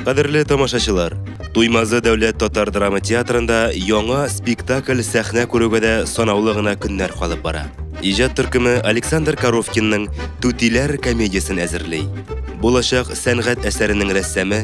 Кадерле тамашачылар, Туймазы дәүләт татар драма театрында яңа спектакль сәхнә күрүгә дә санаулы гына көннәр калып бара. Иҗат төркеме Александр Коровкинның Түтиләр комедиясен әзерли. Булачак сәнгать әсәренең рәссамы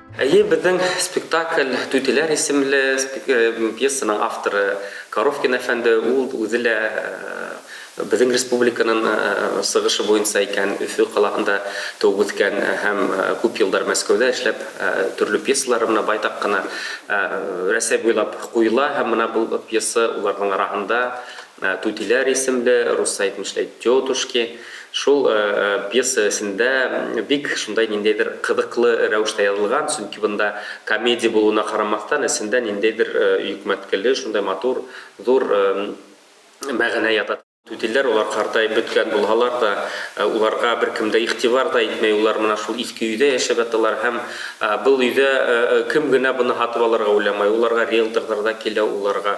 Әйе, безнең спектакль Түтиләр исемле пьесаның авторы Коровкин әфәнде, ул үзе лә безнең республиканың сыгышы буенча икән, Өфе калаһында туып үскән һәм күп еллар Мәскәүдә эшләп, төрле пьесалары менә байтак кына Рәсәй буйлап куела һәм менә бу пьеса уларның арагында Түтиләр исемле рус сайтын эшләйт тетушки. Шул пьеса эсендә бик шундай ниндәйдер кызыклы рәвештә язылган, чөнки бында комедия булуына карамастан, эчендә ниндәйдер йөкмәткеле, шундай матур, зур мәгънә ята. Түтиләр алар картаеп беткән булһалар да, уларга беркем дә игътибар да итми, улар менә шул иске өйдә яшәп яталар һәм был өйдә кем генә быны һатып алырга уйламай, уларга риэлторлар да килә, уларга.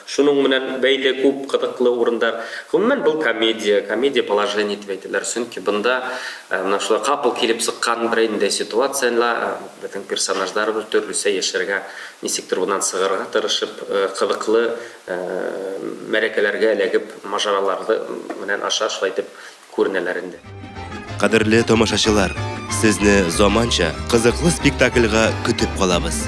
Шуның менән бәйле күп кызыклы урындар. Гомумән, бу комедия, комедия положений дип әйтәләр, чөнки бында менә шулай капыл килеп чыккан берәйнидәй ситуациялә безнең персонажлар төрлесә яшәргә, ничектер моннан чыгарга тырышып, кызыклы мәрәкәләргә эләгеп, мажаралары менән аша шулай итеп күренәләр инде. Кадерле тамашачылар, сезне заманча, кызыклы спектакльга көтеп калабыз.